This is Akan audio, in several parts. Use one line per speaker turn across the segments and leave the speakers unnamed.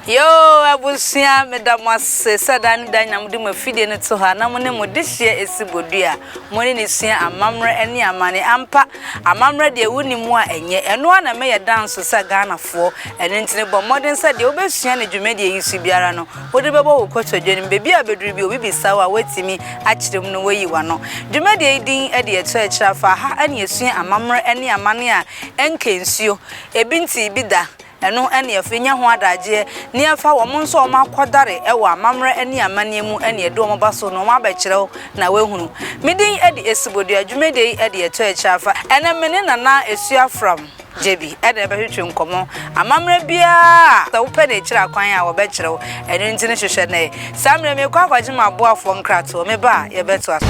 yoo abusua meda mo ase sɛ daa ne daa nyina mode mo afidie no to ha na mo ne mo de hyia ɛsi bodua mo ne ne sua amammerɛ ne amane ampa amammerɛ deɛ wonni mu a ɛnyɛ ɛno a na mɛyɛ danso sɛ ghanafoɔ ɛno nti ne bɔ mmɔden sɛ deɛ wobɛsua ne dwumadie yi so biara no Wode bɛbɔ wo kotodwe no, baabi a bɛduru bi obi bisa wo a woatumi akyerɛ mu no woayi w'ano. Dwumadie yi din de Ɛtɔ Akyire Afa, ɛha na yɛsua amammerɛ ne amanneɛ a ɛnka nsuo, ebi ntee bi da, ɛno na yɛfa nya ho adagyeɛ, na yɛfa wɔn nso a wɔakɔdare wɔ amammerɛ ne amanneɛ mu na yɛde wɔn ba so na wɔabɛkyerɛ wo na woahunu. Me din de Asubodua, dwumadie yi de Ɛtɔ Akyire Afa, ɛnɛ me ne Nana Asua Afram. Gye bi na ɛbɛtwetwe nkɔmmɔ. Amammerɛ biara, sɛ wopɛ no akyiri akwan a, wɔbɛkyerɛ wo. Ɛno nti no hwehwɛ nnɛ. Saa mmerɛ yi, merekɔ akɔgye m'aboafoɔ nkratoɔ. Meba a, yɛbɛtoa so.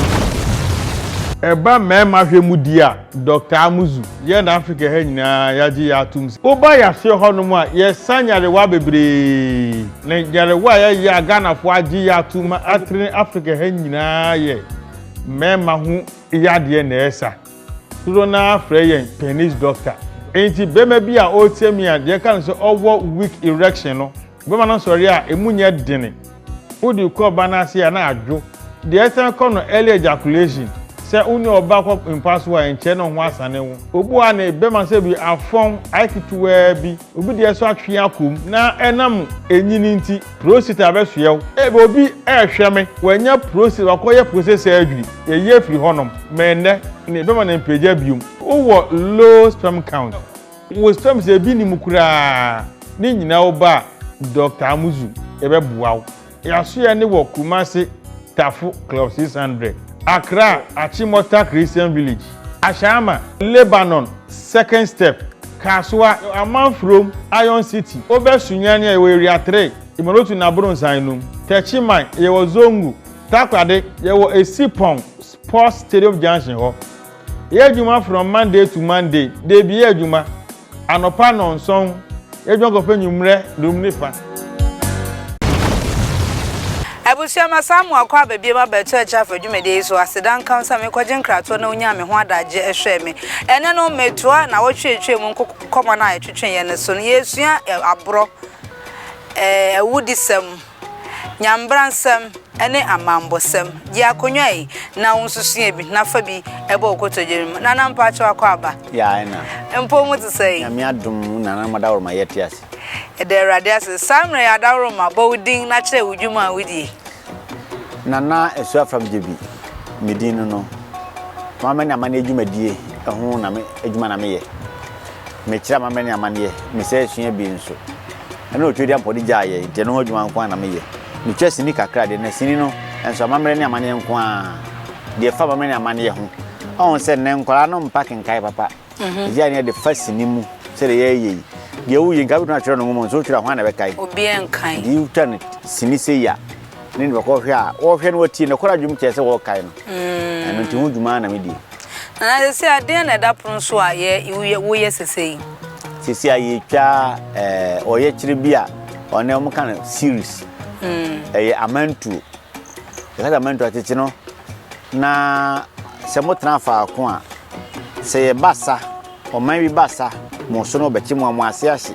Ɛba mmarima hwɛ mu deɛ a, Dɔkta Amuzu, yɛn na Afrika ha nyinaa yɛagye yɛn atom sɛ, woba yɛaseɛ hɔnom a, yɛsa nyarewa bebree. Na nyarewa a yɛyɛ a Ghanafoɔ agye yɛn atom ma atrene Afrika ha nyinaa yɛ mmarima ho yadeɛ na ɛsa. Dodoɔ no ara frɛ yɛn penis doctor. Enti barima bi a ɔreteɛ mi a deɛ ɛka no sɛ ɔwɔ weak erection no, barima no sɔre a ɛmu nyɛ dene. Wode kɔ ɔbaa no ase a na adwo. Deɛ ɛsan kɔ no early ejaculation. Sɛ wo ne ɔbaa kɔ mpa so a ɛnkyɛre na wo ho asane wo. Obu a ne bɛma sɛ bi afɔn ayɛ ketewaa bi, obi deɛ nso atwe akɔ mu na ɛnam enyini nti. Prostate abɛsoɛ wo. Ebia obi rehwɛ me, wanya prostate, wakɔyɛ prostate surgery, yɛyi afiri hɔnom, ma ɛnnɛ no yɛbɛma no mpagya biom. Wowɔ low sperm count, wo sperms no ebi nni mu koraa, ne nyinaa wo ba a, Dɔkta Amuzu, yɛbɛboa wo. Yɛasoɛ no wɔ Kumasi, Tafo, Club 600, Accra, Achimota Christian Village. Ashaiman, Lebanon, Second Step, Kasoa, Amanfurom, Iron City, Obɛ Sunyani a yɛwɔ Area Three, Imorotu na Abronnsan nom, Techiman, yɛwɔ Zongo, Takoradi, yɛwɔ Esipong Sports Stadium Junction hɔ. Yɛyɛ adwuma from Monday to Monday, dabi yɛ adwuma. Anɔpa nnɔnson, yɛdwan kɔfa anwummerɛ dum ne fa.
Abusua, Masan amu akɔ aba biom aba ɛto akyire afa dwumadie yi so. Aseda nka wo sɛ mekɔgye nkratoɔ na wonyaa me ho adagye hwɛɛ me. Ɛnnɛ no, metoa nnawɔtwe a ɛtwaa mu nkɔmmɔ no a yɛtwetweeɛ no so no. Yɛresua aborɔ ɛɛ awudisɛm. Nyambransɛm ne amambɔsɛm, gye akonnwa yi na wo nso sua bi na fa bi bɔ wo kotodwe no mu. Nana mpakyɛw akwaaba. Yeah, ɛna.
Mpo mo te sɛn?
Nyame adom wo nana
ma Adaworoma yɛ te ase. Yɛda Awurade
ase. Saa mmerɛ yi Adaworoma bɔ wo din na kyerɛ wo dwuma a wodie. Nana
Asuafam gye bi me din no no, mama ne amanneɛ dwumadie ho na me adwuma na meyɛ. mekyerɛ amammerɛ ne amanneɛ, mesan asua bi nso. Ɛno na Otuadiampɔ de gyaa yɛn, enti ɛno ho adwuma nko ara na meyɛ. Metwa sini kakra de, na sini no nso amammerɛ ne amanneɛ nko ara. Deɛ ɛfa amammerɛ ne amanneɛ ho, ɔhu sɛ nnɛ nkwadaa no mpa kenkan papa. Mhm. Ɛgyae ne ɛde fa sini mu sɛdeɛ yɛreyɛ yi. Deɛ woyɛ nka wobɛtumi atwerɛ no nwoma mu nso wotwerɛ a hwan na ɛbɛkae? Obiara nkae. Nti
wotwa no
sini sei a, ne de bɛkɔhwɛ a, wɔhwɛ no wɔtie, nokorɛ adwom kyerɛ sɛ wɔrekae no. Mm. Ɛno nti ho dwuma na medie. Na na sesei
adeɛn na ɛda pono so a yɛ, woyɛ, woyɛ sesei? Sesei a
yɛretwa eh, ɔyɛkyerɛ bi a ɔne wɔn ka no series. Ɛyɛ amantuo. Yɛka sɛ amantuo atete no, na sɛ motena faako a, sɛ yɛba sa, Ɔman bi ba sa, mo so na ɔbɛkye mo a, mo ase ahye.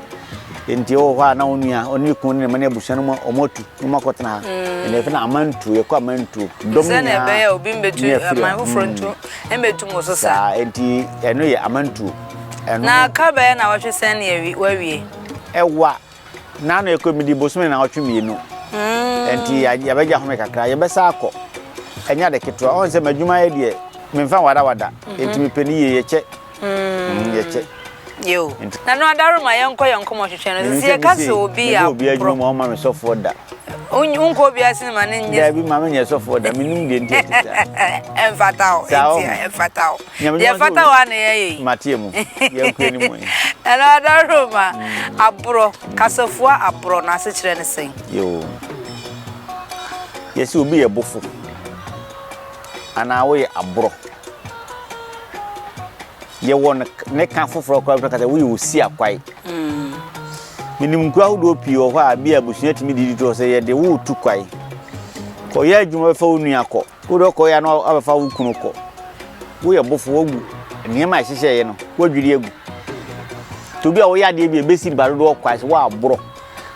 Enti ɔwɔ hɔ a na onua, ɔne ne kunu ne ne mma ne abusua no mu a, wɔn atu na wɔn akɔtena ha. Ɛna yɛfrɛ no amantuo, yɛkɔ amantuo. Dɔm nyinaa na ɛfiri ha. Obi
mbetu aman foforɔ ntu, mbetu mo so sa. Saa, enti ɛno yɛ
amantuo. Na ka
bɛyɛ na wɔtwe sɛn ne wawie? Ɛwa,
Nnaano ɛkɔ mu di bosome nnawɔtwe mmienu nti yɛbɛgye ahome kakra yɛbɛsa akɔ ɛnyɛ ade ketewa ɔn sɛ m'adwuma yɛ deɛ memfa wadawada nti mepɛ ne yie yɛkyɛ mm, yɛkyɛ Yo.
Nano adaro ma yɛnkɔ yɛn nkɔmɔ hwehwɛ no sisi yɛka sɛ obi yɛ aborɔ. Obi adwuma ma ɔma me sɔfoɔ
da. wonkɔ obiara
sene ma ne nyɛ daabi ma menyɛ sɔfoɔ
da menim deɛ nti ɛte
saa ɛmfata wo ɛmfata wo deɛ fata wo a na yɛyɛ yi mateɛ mu
yɛnkura ne mu ɛno adɔhoro
ma aborɔ kasafoɔ aborɔ no asekyerɛ ne sɛn yoo
yɛsɛ obi yɛ bofo anaa woyɛ aborɔ yɛwɔ no ne ka foforɔ koraa bi kasa woyɛ osia kwae menim nkura ahodoɔ pii wɔ hɔ a bi a abusua tumi didi toɔ sɛ yɛde wo tu kwae kɔyɛ adwuma bɛfa wo nua kɔ wode ɔkɔyɛ no abɛfa wo kunu kɔ woyɛ bofo woagu nneɛma a ɛhyehyɛeɛ no woadwiri agu nti obi a woyɛ adeɛ bi a ɛbɛsi ba dodoɔ kwae sɛ woaborɔ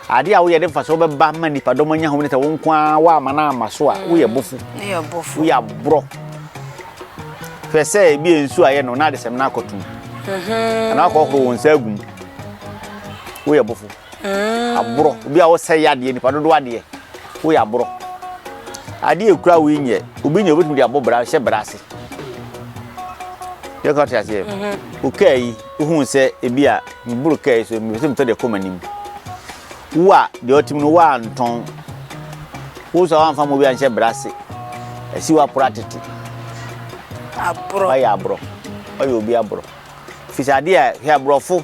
Ade a woyɛ de mfaso bɛba ma nipadɔm anya hom ne sɛ wo nko ara woama no ama so a woyɛ bɔfo. Woyɛ aborɔ. Hwɛ sɛ ebi a nsuo ayɛ no na adesɛm no akɔto mu. Mhm. Anaa akɔhoro wo nsa agu mu. Woyɛ bɔfo. Mhm. Aborɔ. Obi a wosɛ yɛ adeɛ nipa dodoɔ adeɛ. Woyɛ aborɔ. Adeɛ ekura wo yi nyɛ obi nyɛ obetumi de abɔ bra hyɛ bra ase. Yɛ kɔ te aseɛ. Mhm. Okaa yi. Wohuu sɛ ebia meboro kaa yi so, mepɛ sɛ metɔ deɛ ɛkɔ m'anim. Wo a deɛ ɔte mu no woantɔn. Wo nso a woamfa ma obi anhyɛ bra ase. Asi w'aporɔ atete. Aborɔ. Woayɛ aborɔ. Woayɛ obi aborɔ. Firi sɛ adeɛ a hwɛ aborɔfo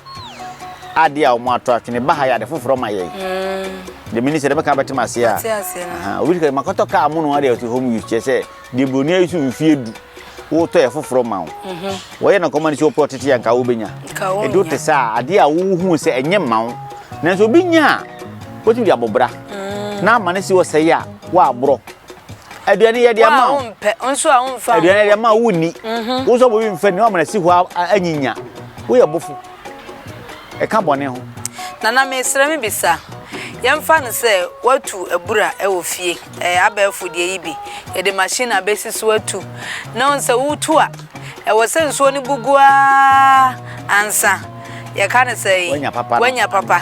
adeɛ a wɔatɔ atwene ba ha yɛ ade foforɔ ma yɛn. Deɛ meni sɛ deɛ mɛka bɛte m'aseɛ a. Obi ka makɔtɔ kaa mo no adeɛ ɔte home use kyerɛ sɛ Deɛ buroni ayi so mfeɛ du wotɔ yɛ foforɔ ma wo mhm. wɔyɛ na kɔma no sɛ wopɛ ɔtete a nka wobɛnya ɛdo te sɛ a adeɛ a wohu sɛ ɛnyɛ mma wo nanso obi nya a wotumi de abɔbra mm. na ama no si ɔsɛe a woaborɔ aduane yɛ deɛ ma aduane
yɛ deɛ ma wonni
mhm. wo sɛ bɔbi mfɛ ne wamana si hɔ anyinya woyɛ bofo ɛka bɔne ho. Nana mesrɛ
me bisa, yɛmfa no sɛ watu abura wɔ fie, ɛɛ abɛɛfo deɛ yi bi, yɛde machine abɛsi so atu, na wohu sɛ wotu a, ɛwɔ sɛ nsuo no bu gu ara ansa, yɛka no sɛn, wanya papa.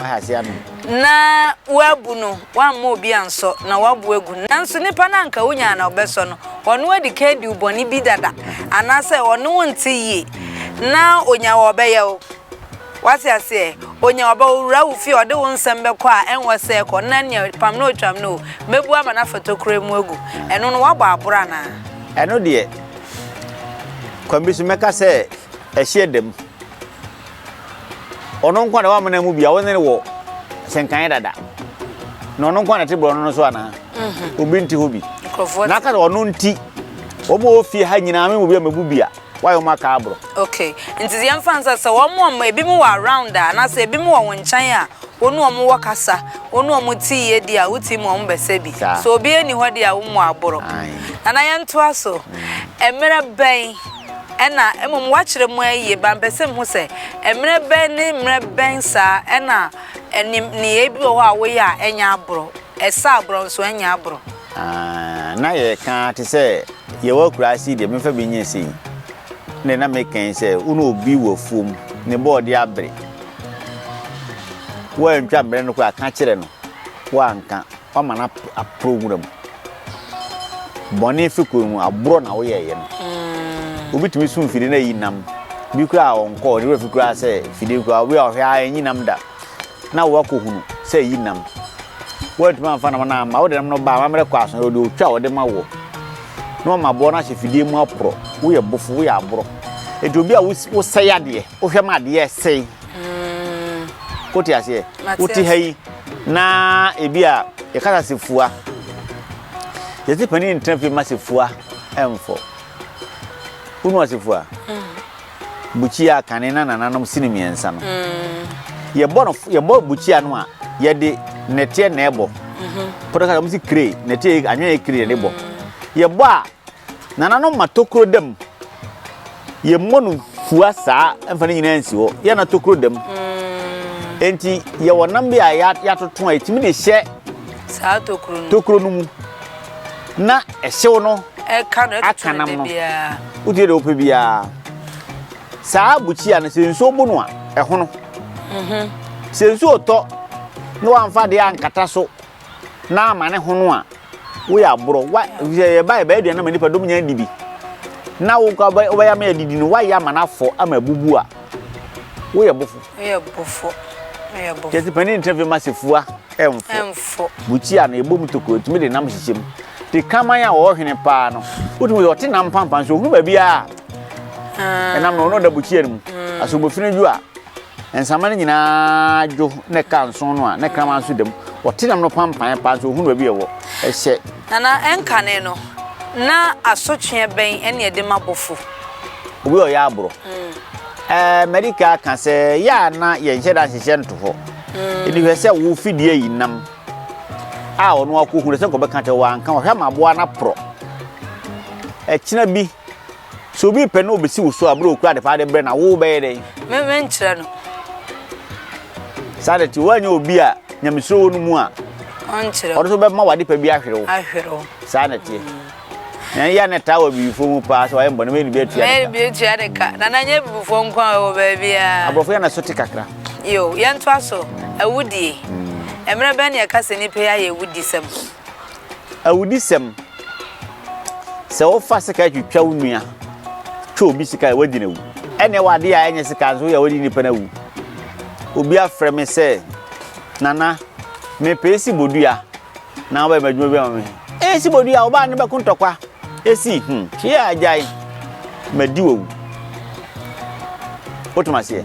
na wɔabu no, wɔamma obi ansɔ, na wɔabu agu no. Nanso nipa no a anka wunya a na wobɛsɔ no, ɔne wo adi kan diw bɔne bi dada, anaasɛ ɔne wo nte yie, na onya wo a ɔbɛyɛ wo. Wate aseɛ? Onya wo a ɔbɛyɛ wo, owura wo fie a ɔde wo nsɛm bɛkɔ a ɛnwɔ sɛ kɔ, na nea pam no o twam no o, mɛbu ama no afa tokuro mu agu. Ɛno no, woabɔ aboro anaa? Ɛno deɛ,
kwan bi so mɛka sɛ ɛhyeɛ da mu. Ɔno nko na wamena mu bia wone no wɔ sɛnkan dada. Na ɔno nko na te borɔno no so anaa? Mhm. Obi nte hɔ bi. Na aka sɛ ɔno nti wɔn a wɔfie ha nyinaa me mu bi a mebu bia wayɛ wɔn aka aborɔ. Okay. Nti deɛ
mfa nsa sɛ wɔn wɔn ebi mu wɔ around a anaasɛ ebi mu wɔ wɔn nkyɛn a wɔn wɔn wɔ kasa wɔn wɔn ti yie di a woti mu wɔn bɛsɛ bi. So obi ani hɔ deɛ a wɔn mu aborɔ. Nana yɛn to aso. Mmerɛ bɛn. na mmom wɔakyerɛ mu ara yiye. Bampɛ sɛ muhu sɛ mmere bɛn ne mmere bɛn saa na ɛne nneyɛe bi wɔ hɔ a woyɛ a ɛnyɛ aboro, ɛsɛ aboro nso ɛnyɛ aboro. Aah, na
yɛreka ara te sɛ yɛwɔ akuraase yi deɛ memfa bi nyɛ sei. Ɛnna na meka yi sɛ wo ne obi wɔ afuom, ne bɔɔde abere. Woantwa mmere no koraa, ka kyerɛ no, woanka. Wama no aporo nwura mu. Bɔne fi kɔn mu, aborɔ na woyɛeɛ no. Obi tumi sum fidie na ayi nam. Bi koraa a ɔnkɔɔ, ne werɛ fi koraa sɛ fidie koraa, obi a ɔhwɛ a ɛnyi nam da. Na woakɔhunu sɛ ayi nam. Woantumi amfa nam no amma, wode nam no baa amammerɛ kɔ aso, ɔde otwa a wɔde ma woɔ. Na wama aboɔ no ahyɛ fidie mu aporɔ. Woyɛ bofo, woyɛ aborɔ. Enti obi a wosɛe adeɛ, wohwɛ ma adeɛ sɛe. Mm. Wote aseɛ? Wote ha yi na ebi a yɛkasa se fua. Yɛte panin ntena fie ma se fua ɛmfɔ. Wonu ase fua? Mm. Bukyia kane na nananom sini mmiɛnsa no. Mm. Yɛbɔ no yɛbɔ bukyia no a yɛde nɛteɛ na ɛbɔ. Mm-hmm. Pɔtɔ kasa wɔn si kire nɛteɛ anwene yɛ kire na ɛbɔ. Mm. Yɛbɔ a Nananom ma tokuro da mu. Yɛmmɔ no fua saa mfa no nyinaa nsi hɔ. Yɛ na tokuro da mu. Mm. Enti yɛwɔ nam bi a yɛatoto a ɛtumi de hyɛ saa tokuro
no tokuro no mu
na ɛhyew no aka nam
no wotie deɛ wopɛ biara
saa bukyia no sɛ nsuo bu no a ɛhono mhm. sɛ nsuo tɔ na wamfa deɛ ankata so na ama ne ho no a, woyɛ aborɔ. Wa sɛ yɛbae bɛyɛ aduane ama nnipa dɔm nyinaa di bi. Na wo nka wobɛ- wobɛyɛ ama yɛadidi no, woayɛ ama no afɔ ama abubu a, woyɛ bofo. Woyɛ bofo. Woyɛ bofo. Kyerɛ sɛ panin ntena fie ma sefua ɛmfo. Ɛmfo. Bukyia no, ɛbɔ mu tokuro, ɛtumi de nam hyehyɛ mu. Te kraman a ɔwɔ hwene paa no, wotumi sɛ ɔte nam pampan so, ohunu baabi a Ah, ɛnam no, ɔno ɔda bukyia no mu. Asomofini dwo a, Nsramma no nyinaa dwo na ɛka nsõ no a na kraman nso da mu. Wɔte nam no panpan paa nso wɔhunu baabi a ɛwɔ. Ɛhyɛ. Na na ɛnkane
no, na asotweɛ bɛn ne ɛde ma bɔfo? Obi a ɔyɛ
aborɔ. Ɛɛ madi ka aka sɛ yɛ a na yɛnhyɛ da nhyehyɛ nto hɔ. Ɛdi hwɛ sɛ wo fidie yi nam a ɔno akɔhu no sɛ nkɔbɛka kyɛ wo anka ɔhwɛ ma aboa no aporɔ. Ɛkyena bi. Sɛ obi pɛ na obesi wo so a, bere okura ade paa de brɛ na wo bɛyɛ dɛn? Me me nkyerɛ
no.
Saa de te
woanyɛ obi
a nyamesuro wɔ no mu a. Ɔnkyerɛ. Ɔno nso
bɛma wade pa
bi ahwere wo. Ahwere wo. Saa na ɛteɛ. Mm. Na yɛ na taa wɔ abibifoɔ mu paa sɛ wayɛ mbɔ na mɛyɛ ne bi atua ne ka. Mɛyɛ ne bi atua ne ka.
Na na nyɛ abibifoɔ nko a wɔ baabi a. Aborɔfo yɛ na so te kakra.
Yo, yɛntoa
so. Awudie. Mm. Mmerɛ bɛn ne ɛka sɛ nipa yɛ ayɛ awudisɛm?
Awudisɛm, Sɛ wofa sekan twitwa wo nua, twa obi sika a, woadi no awu. Ɛnneɛ w'adeɛ a ɛnyɛ sekan nso woyɛ a, woadi nipa no awu. Obi afrɛ me sɛ, Nana, mepɛ esi bodua na wobɛyɛ m'adwuma bi ama me. Esi bodua, wo baa no bɛko ntɔkwa. Esi, hmm, hwee a agyae, madi wawu. Wotom aseɛ?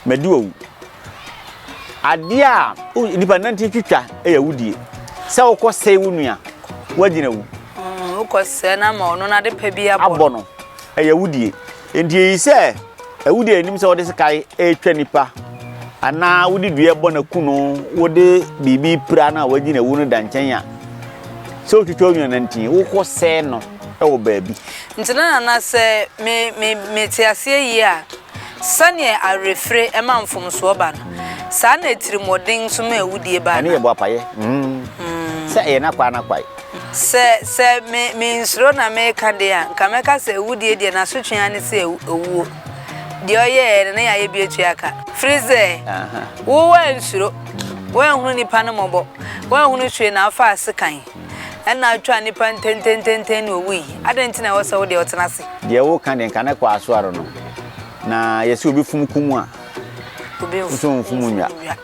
Madu awu. Adeɛ a nipa nante twitwa yɛ awudie. Sɛ wokɔsɛe wo nua, woagyina awu. Mm, wokɔsɛe
no ama ɔno no ade pa bi abɔ. Abɔ no, ɛyɛ
awudie. Enti ɛyi sɛ awudie anim sɛ wode sekan ɛretwa nipa anaa wode dua bɔ no aku no, wode biribi pira no a woagyina awu no da nkyɛn a, sɛ wotwitwa wo nua nantin, wokɔsɛe no wɔ baabi. Nti na nana
sɛ me me me te aseɛ yie a. Sɛdeɛ awerɛfire ma mfomsoɔ ba no, saa na atirimuɔden nso ma awudie ba Ɛno yɛ anaa? boapayɛ
Sɛ ɛyɛ n'akwaa n'akwae. Sɛ, sɛ
me, me nsuro na mereka deɛ a, nka mɛka sɛ awudie deɛ n'asotwe ara ne sɛ awu, awuo. Deɛ ɔyɛɛeɛ no, ne yɛayɛ bi atua ka. Firisɛ, wo woansuro, woanhunu nnipa no mmɔbɔ, woanhunu hwee na wofaa sekan. Ɛnna atwaa nnipa ntɛntɛntɛntɛn na owui. Adɛn nti na ɛwɔ sɛ wo deɛ ɔtena ase? Deɛ woka deɛ, nka ne
kɔ asoɔre no. Na yɛse obi fom kum a, Obi nso
mfom mfom nnwa. nnwa.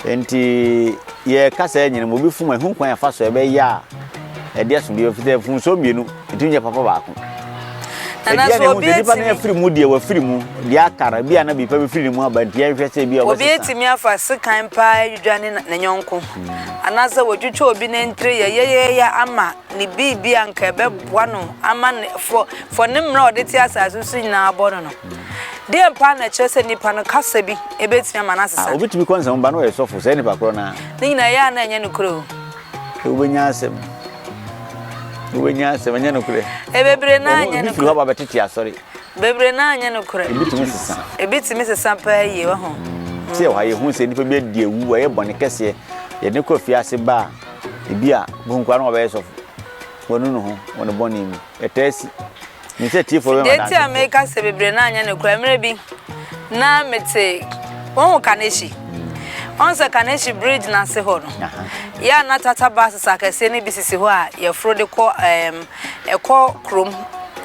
Enti yɛka saa nyina mu, obi fom a, ɛho kwan a ɛfa so a ɛbɛyɛ a ɛde aso bi, ɛfiri sɛ mfomsoɔ mmienu. Ɛtumi nyɛ papa baako. Nana
Ebia na so ehu obi sɛ nipa no etimi afiri mu deɛ
wafiri mu deɛ aka no ebia na biripa bɛfiri ne mu aba nti yɛnhwɛ sɛ ebia obi ɔbɛsesa. etimi afa
sekan paa adwidwane na ne yɔnko anaasɛ watwitwa obi nantire yɛyɛyɛyɛ ama ne biribi a nka ɛbɛboa no ama ne fɔ fɔ ne mmara a ɔde te asase so nyinaa abɔ no no. Deɛn paa na ɛkyerɛ sɛ nipa no kasa bi ebetumi ama no Ah, asesa? obi tumi kɔ nsɛm ba na ɔyɛ
sɔfo saa nipa korɔ no ara. Ne nyinaa ɛyɛ a na ɛnyɛ
nokorɛ o. Sɛ wobɛnya
asɛm. Wobɛnya asɛm, ɛnyɛ nokorɛ. Ɛbebree naa nyɛ nokorɛ. Ebi
firi hɔ ba bɛtete asɔre.
Bebree naa nyɛ
nokorɛ. Ebi tumi sesa. Ebi tumi sesa paa yie, wahu. Te yɛ hɔ a yɛhu sɛ
nipa bi adi awu, wayɛ bɔne kɛseɛ, yɛde kɔ fiase ba a, ebi a, bohu koraa na wabɛyɛ sɔfo. Wanu ne ho wɔ ne bɔne mu. Ɛtaa si. Nim sɛ atiefoɔ bɛma adanse. Deɛ nti a meka sɛ bebree
no anyɛ nokorɛ, mmerɛ bi na mete wohu Kanehyi. Wohu sɛ Kanehyi bridge no ase hɔ no, yɛ a na tata buses akɛseɛ no bi sisi hɔ a yɛforo de kɔ ɛɛm ɛkɔ kurom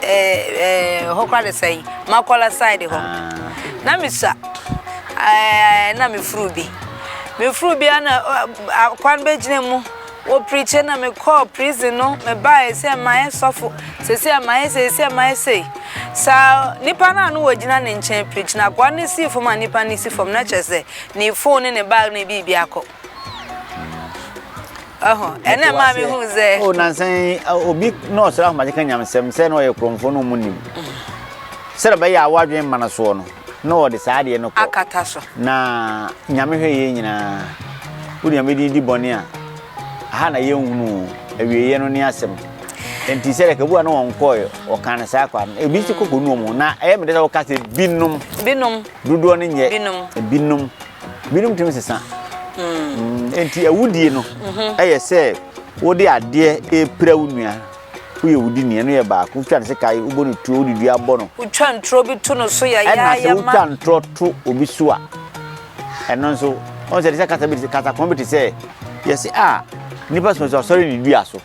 ɛɛ hɔ kora de sɛn Makola side hɔ. Na mesua ɛɛ na mefuru bi. Mefuru bi a na akwan bɛgyina mu. Wo preacher na me kɔɔ prison no me baeɛ sɛ mayɛ sɔfo sɛsɛ mayɛ sei sɛ mayɛ sei saa nipa no a no wɔ gyina ne nkyɛn preach na akoa no sii fam a nipa no si fam na kyerɛ sɛ ne phone ne ne bag ne biribi akɔ ɛho ɛna ɛma me hu sɛ o nansan
obi na ɔsra ahomakye ka nyamsɛm sɛ na ɔyɛ kurɔmfoɔ no mu nim Sɛdeɛ ɔbɛyɛ a w'adwene mma no soɔ no, na ɔde saa adeɛ no kɔ. Akata so. Na
Nyame
hwɛ yei nyinaa. Wo nua mɛdin di bɔne a, ha na yɛnhunu o, awieɛ no ne asɛm. Enti sɛdeɛ kabu a na wɔn kɔɔɛ, wɔkaa no saa kwa no, ebi nso kɔ kɔ nuom o. Na ɛyɛ me dɛ sɛ woka sɛ binom. Binom. Dodoɔ no nyɛ. Binom. Binom. Binom tumi sesa. Enti awudie no yɛ sɛ wode adeɛ repira wo nua. Woyɛ wo di ni, ɛno yɛ baako. Wotwa no sekai, wobɔ no tuo, wode dua bɔ no. Wotwa ntorɔ bi to no
so yayaayamaa. Ɛna sɛ wotwa ntorɔ
to obi so a, ɛno nso, ɔn sɛ ɛte sɛ kasa bi te kasa kɔn bi te sɛ yɛsi a nipa sɔsɔ asɔre ne dua so.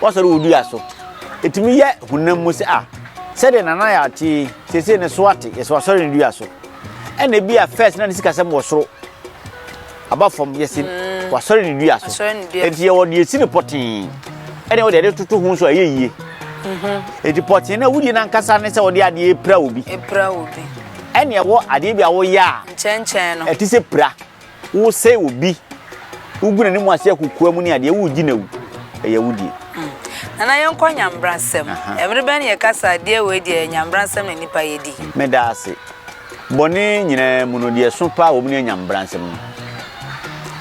Wasɔre wɔ dua so. Etumi yɛ honam mu sɛ a sɛdeɛ nana yɛ ate sese ne so ate yɛsɛ wasɔre ne dua so. Ɛna ebi a fɛs na ne sikasɛm wɔ soro. Aba fam, yɛsi w'asɔre ne dua so. Enti yɛwɔ deɛ yɛsi no pɔtee, ɛne wɔde ɛde toto ho nso ɛyɛ yie. Mhm. Enti pɔtee no a wodie no ankasa ne sɛ wɔde adeɛ pira obi. Pira obi. Ɛne ɛwɔ adeɛ bi a woyɛ a. Nkyɛnkyɛn no. Ɛte sɛ
pira.
Wosɛe obi. Wogu n'anim ase akokoa mu ne adeɛ wogye no awu. Ɛyɛ wodie. Mm. Nana yɛnkɔ
nyambrasɛm. Ɛmere bɛn yɛkasa adeɛ wei deɛ nyambrasɛm na nipa yɛdi. Meda ase.
Bɔne nyinaa mu no, deɛ ɛso paa wɔ mu ne anya mmara nsɛm no.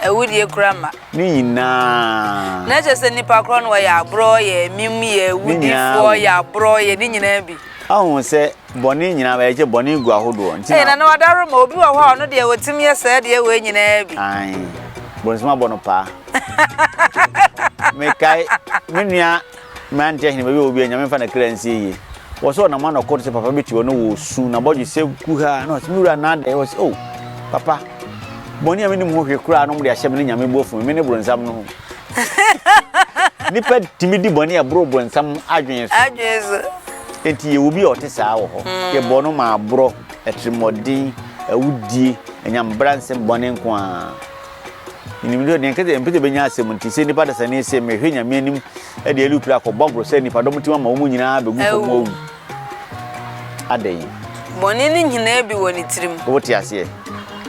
Awudie kora ma. Ne nyinaa.
Na kyerɛ sɛ nnipa
korɔ no wɔyɛ aborɔ, yɛ amim, yɛ awudifoɔ, yɛ aborɔ, yɛ ne nyinaa bi. Ahu
sɛ bɔne nyinaa ba yɛkyɛ bɔne gu ahodoɔ. Nti na. Ɛyɛ na na wadaro ma obi
wɔ hɔ a ɔno deɛ ɔtim yɛ saa deɛ wei nyinaa bi. Ae.
Bɔnsɛm abɔ no paa. Mekae me nua. Mmerante ahene bɛyɛ obi a Nyame mfa ne kra nsie yie. Wɔ sɛ ɔnam anɔkoro te sɛ papa bi te hɔ na ɔresu n'abɔdwesɛ kuhaa na ɔse me wura nna adɛn? Ɔse oh papa bɔne a menim ho hwe koraa no mode ahyɛ me ne Nyame bo afu me, me ne bronsam no ho. Nipa tumi di bɔne a ɛboro bronsam adwene so. Adwene so.
Enti
yɛwɔ obi a ɔte saa wɔ hɔ. Mm. Yɛbɔ no ma aborɔ, atirimmɔden, awudie, anyambra nsɛm bɔne nko ara. Minim dɛ nea nka dɛ mepɛ dɛ menya asɛm ntsi, sɛ nyimpa adasani yi se mehwɛ Nyame anim de Eli Utri akɔ bɔ agor sɛ nyimpadɔm ntsim ama hɔnho nyina begu famu ewu a, adɛn? Bɔne
no nyina bi wɔ ne tsirim. Wote aseɛ?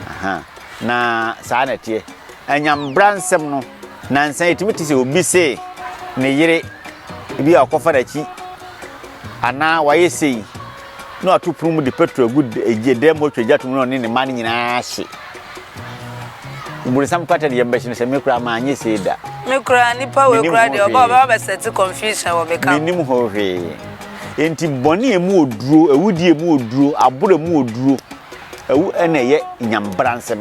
Aha. Na saa na ɛteɛ. Anyambra nsɛm no, nansa yi etumi te sɛ obi se ne yere bi a ɔkɔfa n'akyi anaa wayɛ sei. na wato pono mu de petrol agu gye dɛm hɔ twa gya tom na ɔne ne mma no nyinaa ahye bonsam kwata de yɛn bɛhye no sɛ me koraa ma anyɛ sei da me koraa nipa
wei koraa deɛ ɔba ɔbɛba bɛsɛte confusion wɔ me ka menim ho hwee
enti bɔne mu oduro awudie mu oduro aboro mu oduro awu ɛna ɛyɛ nyambra nsɛm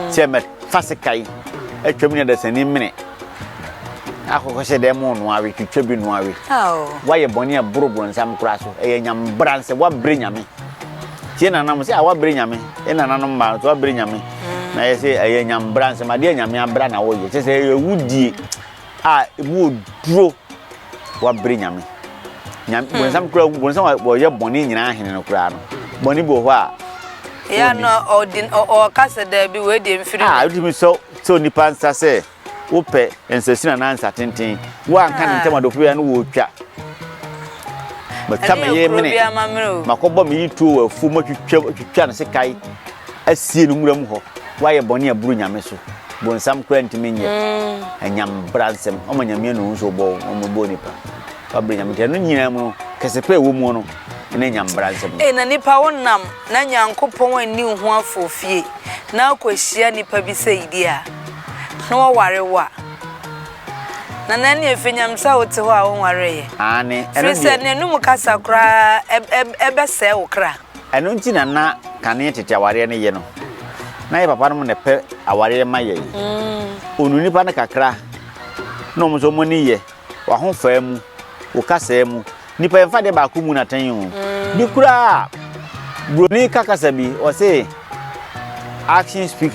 sɛ mɛfa sekan atwam ne adasani mene Akokɔ sɛ dɛn mo noa we twitwa bi noa we wayɛ bɔne a boro bronsam kora so ɛyɛ nyam bra nsɛ wabre nyame tie nana mo sɛ a wabre nyame e nana no mma so wabre nyame na yɛ sɛ ɛyɛ nyam bra nsɛ ma deɛ nyame abra na wɔyɛ kyɛ sɛ ɛyɛ wudie a mu oduro wabre nyame nyame hmm. bronsam kora bronsam wɔyɛ bɔne nyinaa hene no kora no bɔne bi wɔ hɔ a ya no
ɔdi ɔka sɛ daabi wei deɛ mfiri ah wotumi sɛ Sɛ
onipa nsa sɛ wopɛ nsasini anaa nsatenten, woanka ne ntam adɔfo biara no wotwa. Matwa me yere mene, makɔbɔ me yere tuo wɔ afuo mu atwitwa no sekan asie no nwura mu hɔ. Woayɛ bɔne a ɛboro nyame so, bonsam koraa ntumi nyɛ. Anyam bra nsɛm, ɔma nyame anu ho sɛ ɔbɔ wo, ɔmmɔbɔ onipa. Wabrɛ nyame nti ɛno nyinaa mu no, kɛse pɛ ɛwɔ mu no, ɛne anyam bra nsɛm no. Ee, na nipa wonam
na Nyankopɔn anni wo ho afofie. na wokohyia nnipa bi sɛ yidi a, na wɔware wo a, na na ɛnneɛ ɛfiri Nyame sɛ wote hɔ a wonwareeɛ. Aane, ɛno deɛ. Firi sɛ
n'anum
kasa koraa bɛsɛe wo kra. Ɛno nti na na
kane tete awareɛ no ye no, na yɛ papa nom na ɛpɛ awareɛ ma yɛn. Ɔnu nnipa no kakra na wɔn nso wɔn ani ye. w'ahofaa mu, wo kasaa mu. Nnipa yɛmfa adeɛ baako mu no atɛn o. Bi koraa a, Buroni ka kasa bi, ɔse action speak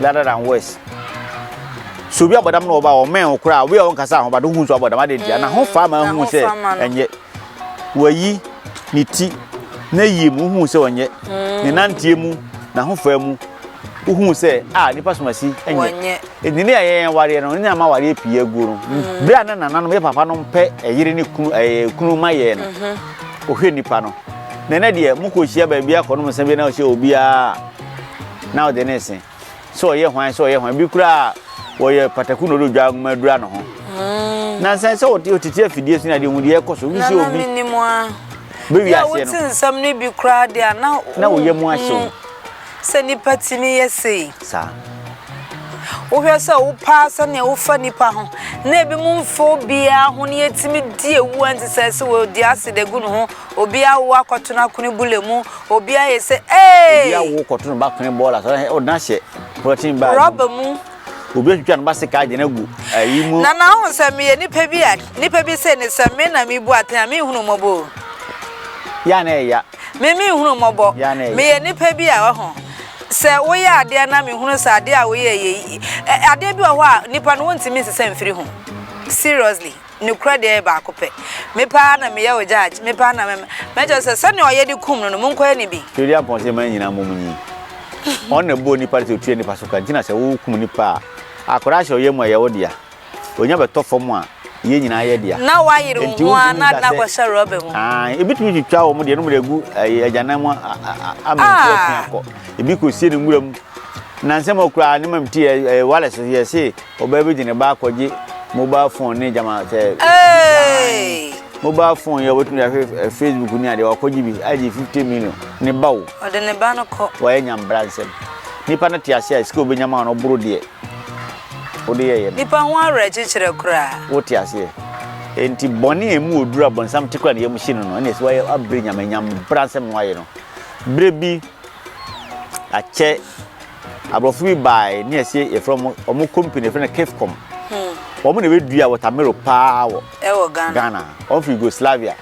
louder than words. So obi abɔdam na ɔba ɔmɛn wo koraa, obi a ɔnkasa ho but wohu nso abɔdam, adɛn ntia? N'ahofaa ma ahu sɛ ɛnyɛ. Wayi ne ti n'ayie mu, wohuu sɛ ɔnyɛ. Ne nanteɛ mu, n'ahofaa mu, wohuu sɛ a nipa somasi nyɛ. Enti ne yɛyɛ yɛn awareɛ no, ne ama awareɛ pii aguo no. Mm. Berɛ a na nananom yɛ papa no mpɛ ɛyere ne kunu ɛyɛ kunu ma yɛn no, mm-hmm. ohwɛ nipa no. Na ɛnɛ deɛ mokɔ hyia baabi akɔnom nsa bi na ɔhyɛ obiara na ɔde ne nse. sɛ ɔyɛ hwan sɛ ɔyɛ hwan bi koraa wɔyɛ pataku na ɔde odwa nwoma adura ne ho mm. na sɛ sɛ ɔtete afidie so na deɛ ɔhu deɛ ɛkɔ so wobi sɛ obi
bɛwi aseɛ
no nsɛm
no bi
koraa
deɛ a na na woyɛ mu ahyɛ wo
sɛ nipa
tumi yɛ sei saa wohwɛ sɛ wopaa sɛnea wofa nipa ho na ebi mu mfo biara ho ne yɛtumi di ewu a nti sɛ sɛ wɔdi ase de gu ne ho Obi awo akɔto no akone bule mu, obi ayɛ sɛ Obi eeii. awo kɔto
no ba kone bɔɔla so, ɔde no ahyɛ polythene bag mu. Rɔba mu.
Obi atwitwa ne ba
sekaa de no agu ayi mu. Nana wohu sɛ meyɛ
nipa bi a, nipa bi sei ne sɛ me na mebu aten a, menhunu wo mmɔbɔ o. Yɛ
a na ɛyɛ ya. Me menhunu wo mmɔbɔ.
Yɛ a na ɛyɛ ya. Meyɛ nipa bi a, wahu. Sɛ woyɛ adeɛ na mehunu sɛ adeɛ a woyɛɛ yɛ yi, ɛ, adeɛ bi wɔ hɔ a, nipa no wontumi nsesa mfiri ho. Seriously. Nokorɛ deɛ yɛ baako pɛ. Me paa na meyɛ wo judge, me paa na mɛ mɛkyerɛ wo sɛ sɛdeɛ ɔyɛ de kum no no monkɔyɛ no bi. Twedi ampɔn sɛ mmaa nyinaa
mmom nyi. Ɔno na ɛbɔɔ nipa no sɛ ɔtua nipa so ka nti na sɛ wokum nipa a akwadaa hyɛ ɔyam a ɛyɛ wo dea. Ɔnya bɛtɔ fam a yɛn nyinaa yɛ dea. Na wayere wo ho ara
na ade no akɔhyɛ rɔba mu. Ae, ebi tumi twitwa wɔn
deɛ no mede agu ɛyi agyanan mu ama nsuo atwe akɔ. Ebi kɔsie no nwura mu. Nnansa mu koraa ne mamti ɛɛ wale so yɛse. Ɔbaa bi de ne ba akɔgye mobile phone ne gyama sɛ. Hey! mobile phone yɛ wobɛtumi ahwɛ eh, facebook ne adeɛ wakɔgye bi agye 50 million ne ba o ɔde ne ba no kɔ
wayɛ nyambra nsɛm
nipa no te ase a sika obɛnya ma no boro deɛ wode
yɛyɛ no
nipa ho awerɛkyekyerɛ
koraa
wote aseɛ enti bɔne a ɛmu ɔduru a bɔnsam te kora ne yam hye no no ɛne ɛsɛ wayɛ abrɛ nyame nyambra nsɛm no wayɛ no berɛ bi akyɛ Aborɔfo bi bae ne asie yɛfrɛ wɔn wɔn company yɛfrɛ no Kefcom. Wɔn na wɔdua wɔtamero paa wɔ Ɛwɔ Ghana. Ghana. Wɔn firi Yugoslavia.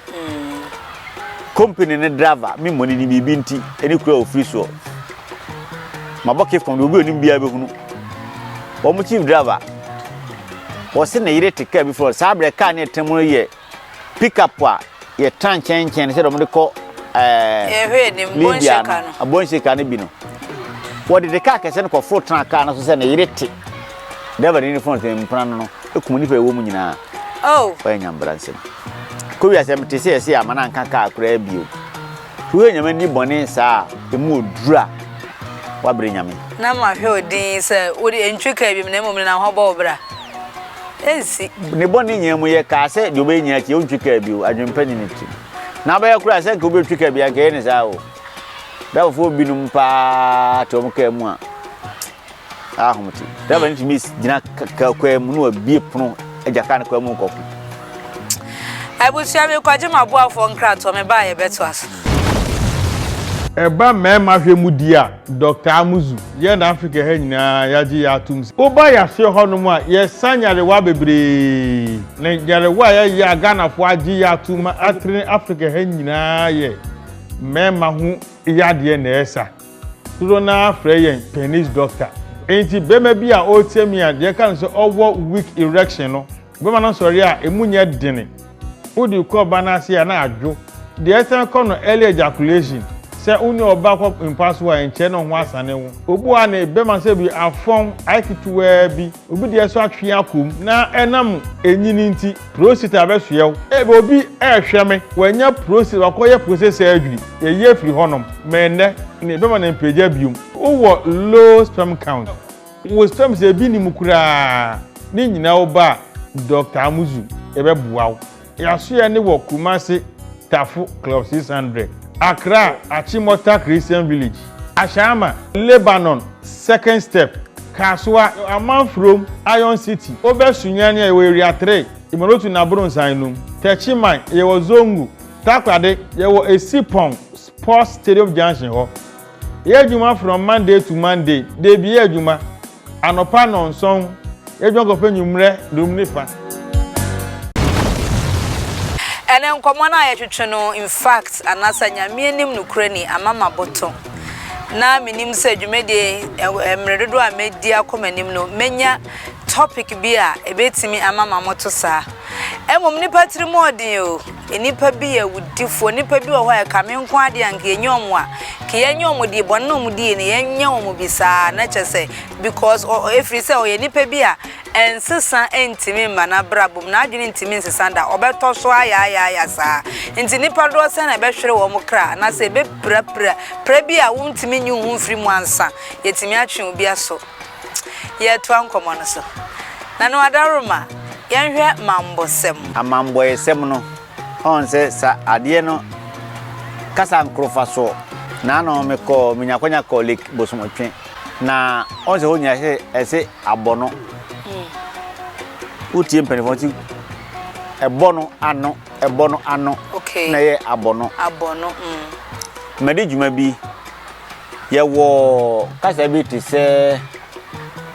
Company no driver me mmɔ ne din biribi nti ɛne kuro a ɔfiri soɔ. Mabɔ Kefcom deɛ obi a ɔnim biara bɛhunu. Wɔn chief driver wɔse ne yere te kaa bi frɛ wɔn saa berɛ kaa ne ɛtena mu no yɛ pickup a yɛtra nkyɛnkyɛn no sɛdeɛ wɔde kɔ ɛɛ
libya no abɔnhyɛ ka no bi no
wɔde de kaa kɛse no kɔforo tena kaa no so sɛ ne yere te dɛbɛ ne ne fɔn sɛ mpena no no ekum nipa ɛwɔ mu nyinaa oh. ɔyɛ nyambra nsɛm kowia sɛ mete sɛ yɛsɛ ama no anka kaa koraa bio Wo yɛ nyame di bɔne saa a emu wɔ duru a wa brɛ nyame. Na ma hwɛ wo din
sɛ wo de ɛntwe kaa biom na mmom ne na ho bɔ wo bra. Ɛnsi. Ne bɔne
nyinaa mu yɛ kaa sɛ deɛ ɔbɛyɛ nyinaa akyi ɔntwe kaa bio adwene pa ni ne tiri mu. Na abɛyɛ koraa sɛ nka obi ɔtwe kaa bi anka ɛyɛ ne saa o. Dafɔfoɔ binom paa te wɔn kaa mu a saa ahom te driver no tumi gyina kaa kwan mu na wabie pono agya kaa no kwan mu nkɔko
abusua bi kɔgye ma boafoɔ nkratoɔ me baa yɛbɛto aso ɛba
mmarima hwɛ mu di a dɔkta amuzu yɛ na afrika ha nyinaa yɛagye yɛ atom sɛ woba yɛaseɛ hɔnom a yɛsa nyarewa bebree na nyarewa a yɛyɛ a ghanafoɔ agye yɛ atom ma atere afrika ha nyinaa yɛ mmarima ho yadeɛ na ɛsa Dodoɔ no ara frɛ yɛn penis doctor. Enti barima bi a ɔreteam yi a deɛ ɛka no sɛ ɔwɔ weak erection no, bɛma no nsɔreɛ a ɛmu nyɛ dene. Wode kɔ ɔbaa no ase a na adwo. Deɛ ɛsan kɔ no early ejaculation. Sɛ wo ne ɔbaa kɔ mpa so a ɛnkyɛre na wo ho asane wo. Obu a ne bɛma sɛ bi afɔn, ayɛ ketewaa bi. Obi deɛ nso atwe akɔ mu na ɛnam ɛnyini nti. Prostate abɛsoɛ wo. Ebia obi rehwɛ me, wanya prostate, wakɔyɛ prostate surgery, yɛyi afiri hɔnom, ma ɛnnɛ no yɛbɛma no mpagya biom. Wowɔ low sperm count, wo sperms no ebi nni mu koraa, ne nyinaa wo ba a, Dɔkta Amuzu, yɛbɛboa wo. Yɛasoɛ no wɔ Kumasi, Tafo, Club 600, Accra, Achimota Christian Village. Ahyɛama, Lebanon, Second Step, Kasoa, Amanfurom, Iron City, Obɛ Sunyani a yɛwɔ Area Three, Imorotu na Abronnsan nom, Techiman, yɛwɔ Zongo, Takorade, yɛwɔ Esipong Sports Stadium Junction hɔ. Yɛyɛ adwuma from Monday to Monday, dabi yɛ adwuma. Anɔpa nnɔnsɔn, yɛadwan kɔpɛ anwummerɛ dum ne fa.
Ɛne nkɔmmɔ no a yɛtwetwe no in fact anasa Nyame anim nokorɛni ama maboto na menim sɛ dwumadie yi mmerɛ dodoɔ a mɛdi akɔ m'anim no mɛnya topic bi a ɛbɛtumi ama mamoto saa mmom nipa tiri mu ɔden o Nnipa bi yɛ awudifoɔ. Nnipa bi wɔ hɔ a ɛkame nko adeɛ anka yɛnyɛ wɔn a ka yɛnyɛ wɔn deɛ bɔne na wɔn die no yɛnyɛ wɔn bi saa na kyɛ sɛ because ɛfiri sɛ ɔyɛ nnipa bi a ɛnsesa ntumi mma n'abrabɔ mu n'adwene ntumi nsesa da ɔbɛtɔ so ayaayaaya saa nti nnipa doɔ sɛ na ɛbɛhwere wɔn kra anaasɛ ɛbɛpirapira pira bi a wontumi nyi ho mfiri mu ansa yɛtumi atwe obi aso Yɛretoa nkɔmmɔ no so. Nanu Adaworoma, yɛnhwɛ mammɔsɛm. Amammɔesɛm
no, ɔn sɛ sa adeɛ no kasa nkorofa soɔ. Naano me kɔɔ, me nya kwanya kɔɔ Lake Bosomotwe. Na ɔn sɛ hɔ nyina sɛ ɛse abɔ no. Wo tie mpaninfoɔ no se ɛbɔ no ano, ɛbɔ no ano, na ɛyɛ
abɔ no.
Abɔ no, mm. Madi dwuma bi. Yɛwɔ kasa bi te sɛ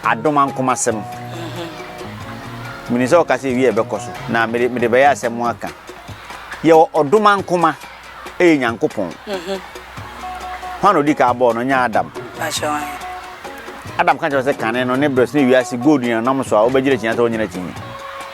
adoma nkomasɛm. Mhm. Menim sɛ ɔka sɛ ewie ɛbɛkɔ so na mede mede bɛyɛ asɛm aka. Yɛwɔ ɔdoma nkoma ɛyɛ Nyankopɔn. Mhm. Hwan na odi ka abɔɔ no nyɛ Adam. Adam ka kyerɛ sɛ kane no ne brɛ so ne wiase gold nyinanam so a wobɛgyina kyinyi sɛ wonyina kyinyi.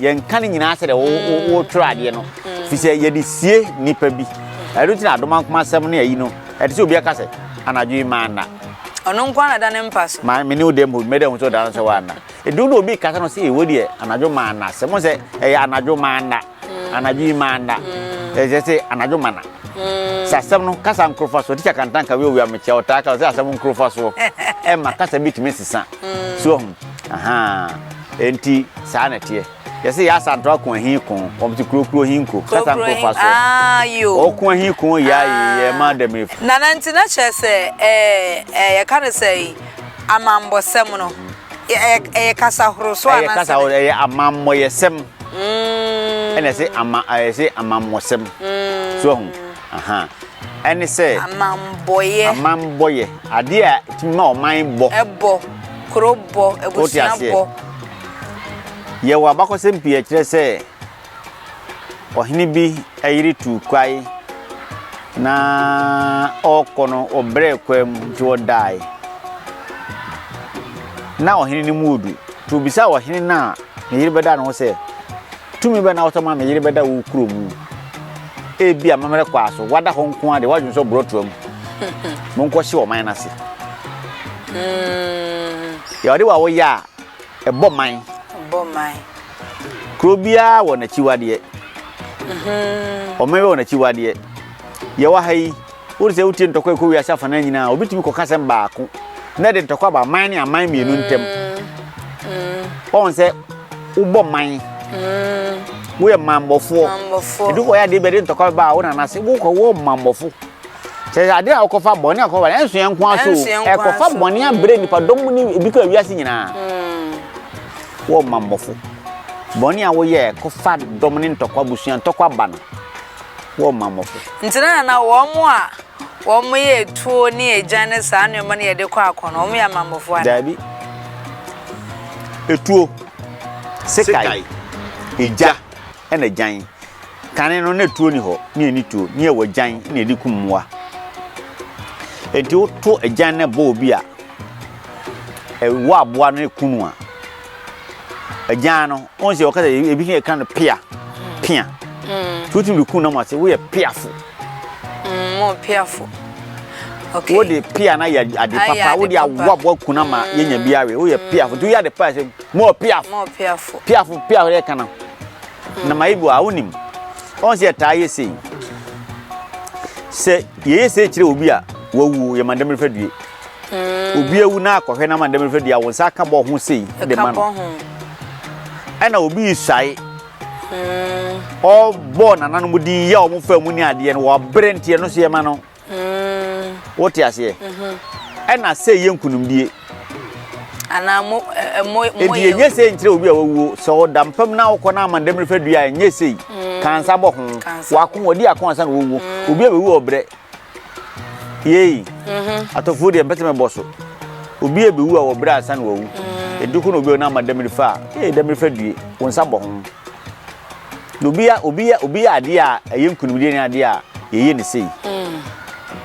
yɛnka ne nyinaa sɛdeɛ wotwerɛ mm. adeɛ no mm. fi sɛ yɛde sie nnipa bi ɛno nti na adoma nkoma asɛm ne ayi no ɛte sɛ obi aka sɛ anadwo yi maa nna ɔno nko ana
da ne mpa so ma mene wo dɛ mu mɛdɛ
ho sɛ ɔda no sɛ woanna ɛdu na obi kasa no sɛ ɛwɔ deɛ anadwo maa nna sɛ mo sɛ ɛyɛ anadwo maa nna mm. anadwo yi maa nna ɛsɛ sɛ anadwo ma na sɛ asɛm no kasa nkorofa soɔ tikya kantanka wei owia mekyia ɔtaa ka sɛ asɛm nkorofa soɔ ɛma kasa bi tumi sesa so ɔhu Ahaa enti saa na ɛteɛ. Yɛse yɛ asanto ako ahi ko, wɔn te kurokuro hi nko, kasa Kurokuro nko hi- fa so. Ah, yo. Ɔko
ahi ko yɛ
ayi yɛ Ah. ma dɛm efu. Nana nti na kyerɛ
sɛ ɛɛ ɛɛ yɛka no sɛ yi, amammɔsɛm no yɛ- ɛyɛ ɛyɛ kasa horow so Ɛyɛ anaasɛ kasa hɔ dɛn? ɛyɛ
amammɔyɛsɛm Mm, ɛna ɛse ama ɛse amammɔsɛm. mm. So ahu. Aha. Ɛne sɛ. Amammɔeɛ. Amammɔeɛ. Adeɛ a ɛtumi ma ɔman bɔ. Ɛbɔ. Kuro
bɔ. Abusua bɔ.
Yɛwɔ abakɔsɛm pii ɛkyerɛ sɛ ɔhene bi yere tu kwae na ɔrekɔ no ɔbrɛ kwa mu nti ɔdae na ɔhene no mu odu nti obisa ɔhene no a ne yere bɛda ne ho sɛ tumi bɛ na wotɔ ma me yere bɛda wo kuro mu Ebia amammerɛ kwaa so woada hɔ nko ara de w'adwene sɔ borɔtoa mu. Monkɔhye ɔman no ase. Deɛ ɔde wa woyɛ a, ɛbɔ man. Kuro biara wɔ n'akyiwadeɛ. Ɔman biara wɔ n'akyiwadeɛ. Yɛwɔ ha yi. Wohu sɛ wotie ntɔkwa a ɛkɔ wiase afanan nyinaa a, obi tumi kɔka asɛm baako na ɛde ntɔkwa ba man ne aman mmienu ntam. Wɔn sɛ wobɔ man, woyɛ mammɔfoɔ. Edu hɔ yɛ adeɛ bi a ɛde ntɔkwa ba a wo nana ase wokɔ wɔ mammɔfo. Sɛ adeɛ a wokɔfa bɔne a wokɔfa bɔne ɛnso yɛn nko ara so ɛkɔfa bɔne abrɛ nipadɔm mu ne ebi kɔ wiase nyinaa. Wɔ mammɔfo. Bɔne a woyɛ kɔfa dɔm ne ntɔkwa busua ntɔkwa ba no. wɔmma mmɔfra. Nti na na wɔn
a wɔyɛ atuo ne agyan ne saa nneɛma no yɛde kɔ ako no, wɔyɛ amammɔfoɔ anaa? Daabi.
Atuo, sekai, egya ɛna agyan. Kane no na atuo ni hɔ, ne ɛni tuo, ne ɛwɔ agyan na ɛde kum mmoa. Enti woto agyan na ɛbɔ obi a, ɛwɔ aboa no ɛku no a, agyan no wɔn sɛ wɔka sɛ ebi yɛ kan no pia pia mm. so wotumi de kun nam ase woyɛ piafo mm,
mo piafo okay wode
pia na yɛ ade papa wode awoaboa kun ama mm. yɛnya bi awe woyɛ piafo nti woyɛ ade paa sɛ mo piafo mo piafo piafo piafo yɛ kana na ma ibo a wonim wɔn sɛ yɛtaa yɛ sei sɛ yɛyɛ sei kyerɛ obi a wawu yɛma dɛm refɛ due Obi awu na akɔhwɛ na ma ndɛm fɛ dia wo nsa aka bɔ ho sei de ma no. Ɛna obi suae ɔbɔ nananom din yɛ wɔn fɛ mu ne adeɛ no wɔbrɛ nti ɛno so yɛ ma no. Wote aseɛ? Ɛna sɛ yɛ nkunimdie.
Anaa mo mo mo. Eti enye
sei nkyerɛ obi a wawuo sɛ ɔda mpam na wokɔ na ama ndɛm fɛ dua enye sei kansa bɔ ho wako ɔdi ako ansa na wɔwuo obi a bɛwu ɔbrɛ. Yei, mm-hmm. atɔfoɔ deɛ mpɛsɛ mɛbɔ so. Obi a ɛbɛwu a wɔbrɛ ansa na wawu. Mm. Ɛdu ko na obi a ɔnama damiri fa a, ee damiri fa due, wɔn nsa bɔ ho. Na obi a obi a obi a adeɛ a ɛyɛ nkunimdie ne adeɛ a yɛyɛ ne sei. Mm.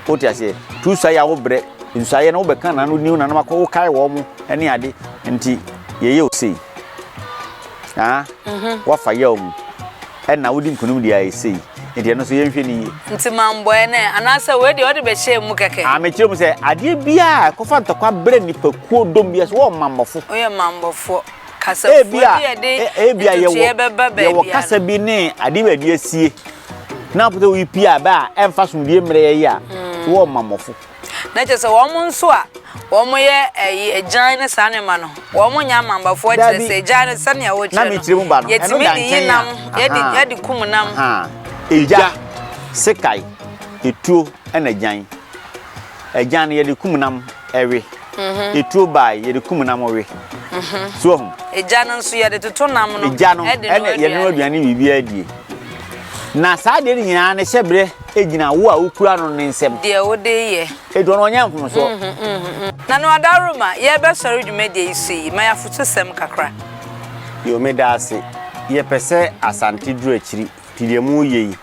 Wote aseɛ, tu sa yɛ a wobrɛ, nsu ayɛ na wobɛka na no niw na no akɔ wokae wɔn mo ne ade nti yɛyɛ o sei. Ah, mm-hmm. wafa yɛ o mu. Ɛna wodi nkunim deɛ ayɛ sei. Nti ɛno nso yɛnhwɛ no yie. Nti mambɔɛ nɛ
anaasɛ wei deɛ ɔde bɛhyɛɛ mu kɛkɛ. Aa mekyerɛ mu sɛ adeɛ
biaa a ɛkɔfa ntɔkwa brɛ nnipakuo dɔm biaa so wɔyɛ ɔmammɔfo. Woyɛ ɔmammɔfoɔ.
Kasafoɔ bi a ɛde ntotoeɛ bɛba baabi
a no. Ebia yɛwɔ kasa bi ne adeɛ bi a yɛde asie na wopɛ sɛ woyi pia bɛ a ɛmfa asomdwoeɛ mmerɛ yɛn a so wɔyɛ ɔmammɔfo. na kyerɛ sɛ wɔn
nso a wɔyɛ ɛyi agyan ne saa nneɛma no wɔn nyɛ amambafoɔ kyerɛ sɛ agyan no sɛnea wɔkyerɛ no yɛtumi
de yi nam
yɛde yɛde kum nam. egya
sekae etuo ɛna agyan agyan no yɛde kum nam ɛwe mhm. etuo baae yɛde kum nam ɔwe mhm. so ɔho. egya no nso yɛde
toto nam no egya no ɛna yɛde
no aduane biribiara die na saa deɛ no nyinaa no hyɛ berɛ. Egyina wo a wokura no no nsam. Deɛ wode yɛ.
Aduro no ɔnyɛ mfomsoɔ.
Na no
adaworoma yɛrebɛsɔre dwumadie yi so yi, ma yɛ afotusɛm kakra. Yo, meda
ase. Yɛpɛ sɛ Asante duru akyiri, nti deɛ moreyɛ yi,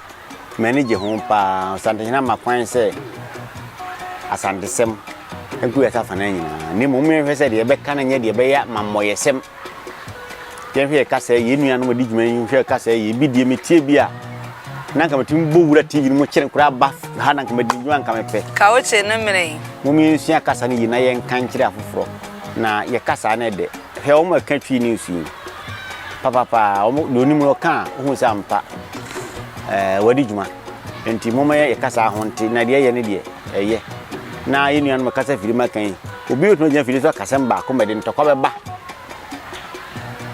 m'ani gye ho pa ara. Ɔsantehene ama kwan sɛ Asantesɛm gu yɛn afafana nyinaa, na mmom yɛnhwɛ sɛ deɛ yɛbɛka no nyɛ deɛ ɛbɛyɛ amammɔyɛsɛm. Yɛn hwɛ ka sɛ yɛn nuanom a di dwuma yi hwɛ ka sɛ yɛ bi deɛ metie bi a na nka metumi bɔ wura TV no mu kyerɛ koraa ba ha na nka madi dwuma nka mepɛ. Kaoche no mene yi.
Mom yɛnsua kasa
no yie na yɛnka nkyerɛ afoforɔ na yɛ kasa no ɛdɛ. Hwɛ wɔn a ɛka Twi news yi papapa wɔn deɛ onim no ɔka a ohun sɛ ampa ɛɛ wɔadi dwuma nti mom yɛ kasa ho nte na deɛ ɛyɛ no deɛ ɛyɛ na yɛ nuanom kasa firi maka yi Obi betumi agyina afidie so aka asɛm baako ma ɛde ntɔkwa bɛba.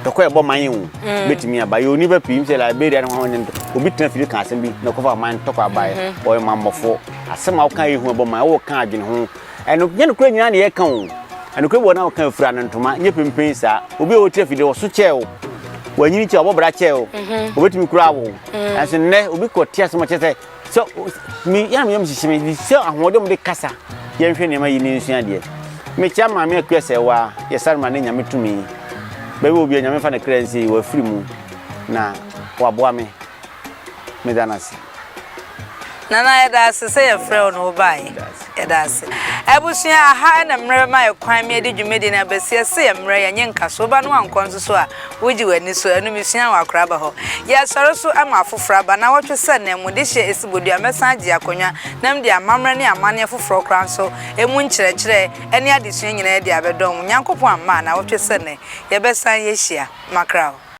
Ntɔkwa a ɛbɔ man yi ho mm. betumi aba. Yɛ onipa pii sɛ Liberia ne ho ne obi tena afidie ka asɛm bi na ɔkɔfa ɔman ntɔkwa abaeɛ. Mm-hmm. Ɔyɛ mammɔfo. Asɛm a woka yɛ hu ɛbɔ man. Wowɔ ka adwene ho. Ɛno nyɛ nokorɛ nyinaa na yɛka o. Ɛnokorɛ bi wɔ na woka fira no ntoma nyɛ pempen saa. Obi a wɔte afidie wɔso kyɛɛ o. Wɔanyini kyɛɛ wɔbɔ bra kyɛɛ o. Wɔbɛtumi mm-hmm. kura wo. Mm. Nanso nnɛ obi kɔ te asɛm ɔkyɛ sɛ So me yam yam hyehye me de sɛ ahoɔden mu de kasa yɛnhwɛ nneɛma yi ne nsua adeɛ mekyia maame akua sɛ wa yɛsare ma ne nyame tumi baabi obi a nyame fa ne kra nsi yi wafiri mu na waboa me meda no ase
nana yɛda ase sɛ yɛfrɛ wo na wobaeɛ Yɛda ase. Abusua, aha na mmerɛ bɛma yɛ kwan me adi dwumadi no abɛsi ɛse yɛ mmerɛ yɛ nye nka so woba no wankɔ nso so a wogye w'ani so ɛno me sua wɔ akora ba hɔ yɛ sɔre so ama afoforɔ aba na wɔtwe sɛ na mu de hyɛ ɛsi bodua mɛsan agye akonwa na mede amammerɛ ne amaneɛ foforɔ koraa nso ɛmu nkyerɛkyerɛ ɛne adesua nyinaa ɛde abɛdɔn mo Nyankopɔn amma a na wɔtwe sɛ nɛ yɛbɛsan yɛ hyia makra hɔ.